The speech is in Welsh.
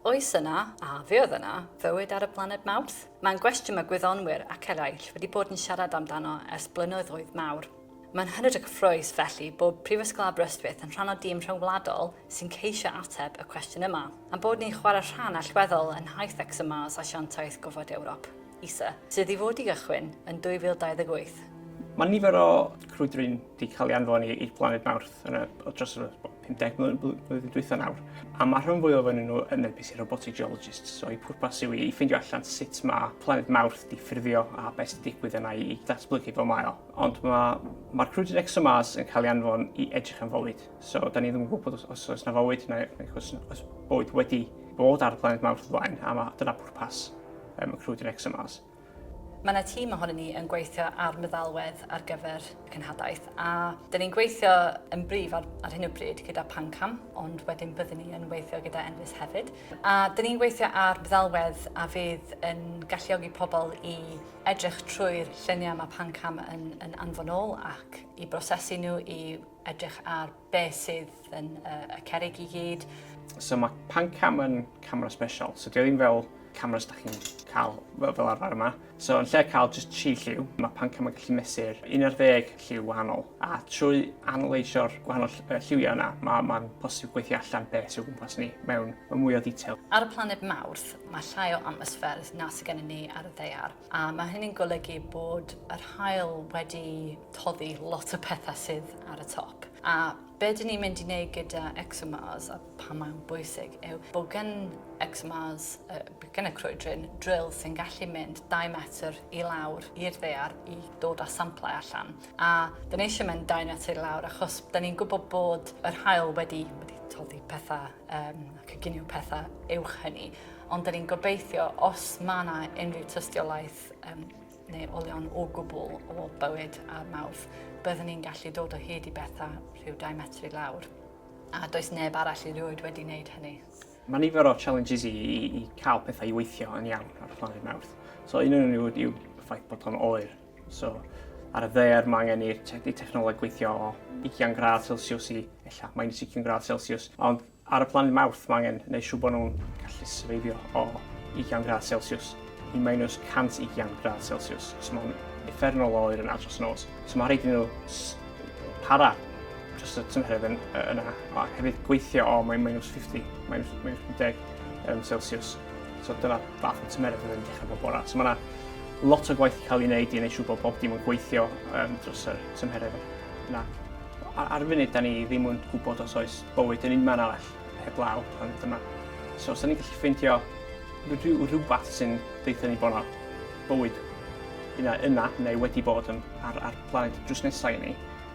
Oes yna, a fe oedd yna, fywyd ar y blaned Mawrth? Mae'n gwestiwn mae gwyddonwyr ac eraill wedi bod yn siarad amdano ers blynyddoedd mawr. Mae'n hynod o gyffrous, felly, bod Prifysgol Aberystwyth yn rhan o dîm rhyngwladol sy'n ceisio ateb y cwestiwn yma, a'n bod ni'n chwarae rhan allweddol yn nhaith ExoMars Asiantaeth Gofod Ewrop, ESA, sydd i fod i gychwyn yn 2028. Mae nifer o crwydryn wedi cael ei anfon i blaned Mawrth yn y, dros y, 50 mlynedd dwytha nawr, a mae'r rhan fwyaf ohonyn nhw yn NPC robotic geologists, so eu pwrpas yw i ffeindio allan sut mae planed Mawrth di ffurfio a beth sy'n digwydd yna i datblygu fel mae o. Ond mae'r ma crwydr ExoMars yn cael ei anfon i edrych am fywyd, so da ni ddim yn gwybod os, os oes na fywyd neu, neu os, os bywyd wedi bod ar y planed Mawrth flaen, a mae, dyna pwrpas um, y crwydr ExoMars. Mae yna tîm ohonyn ni yn gweithio ar meddalwedd ar gyfer y cenhadaeth a dyn ni'n gweithio yn brif ar, ar hyn o bryd gyda Pancam, ond wedyn byddwn ni yn weithio gyda Enfys hefyd. A dyn ni'n gweithio ar meddalwedd a fydd yn galluogi pobl i edrych trwy'r lluniau mae Pancam yn, yn anfon ôl ac i brosesu nhw, i edrych ar beth sydd yn uh, y cerig i gyd. So mae pan cam yn camera special, so dio ddim fel cameras da chi'n cael fel, fel arfer yma. So yn lle cael just chi lliw, mae pan cam yn gallu mesur 11 lliw wahanol. A trwy analysio'r gwahanol lliwiau yna, mae'n ma posib gweithio allan beth sy'n gwmpas ni mewn mwy o ddetail. Ar y planed Mawrth, mae llai o atmosffer na sydd gennym ni ar y ddeiar. A mae hynny'n golygu bod yr haul wedi toddi lot o pethau sydd ar y top. A be dyn ni'n mynd i wneud gyda ExoMars a pam mae'n bwysig yw bod gen ExoMars, uh, gen y crwydryn, drill sy'n gallu mynd 2 metr i lawr i'r ddear i dod â samplau allan. A dyn ni eisiau mynd 2 metr i lawr achos dyn ni'n gwybod bod yr hael wedi, wedi toddi pethau um, coginio pethau uwch hynny. Ond da ni'n gobeithio os mae yna unrhyw tystiolaeth um, neu olion o gwbl o bywyd a'r mawrth, byddwn ni'n gallu dod o hyd i bethau rhyw 2 metr i lawr. A does neb arall i rioed wedi wneud hynny. Mae nifer o challenges i, i, i cael pethau i weithio yn iawn ar y planed mawrth. So un o'n nhw yw ffaith bod o'n oer. So, ar y ddaear mae angen i'r te technoleg gweithio o 20 gradd Celsius i ella minus 20 gradd Celsius, ond ar y planet Mawrth mae angen neu siw bod nhw'n gallu syrfeifio o 20 gradd Celsius i minus 120 gradd Celsius. So mae'n effernol o oer yn adros nos. So mae rhaid i nhw para dros y tymheredd yn, yna, a hefyd gweithio o mae'n minus 50, minus, minus 50 um, Celsius. So dyna fath o tymeryd yn dechrau bob bora. So mae yna lot o gwaith i cael ei wneud i wneud siŵr bod bob dim yn gweithio um, dros y tymheredd yna. Ar, ar y funud, da ni ddim yn gwybod os oes bywyd yn un man arall heblaw pan ydym yma. So, os da ni'n gallu ffeindio rhyw, rhywbeth sy'n deitha ni bod yna bywyd yna, yna neu wedi bod yn, ar, ar planed drws nesau i ni,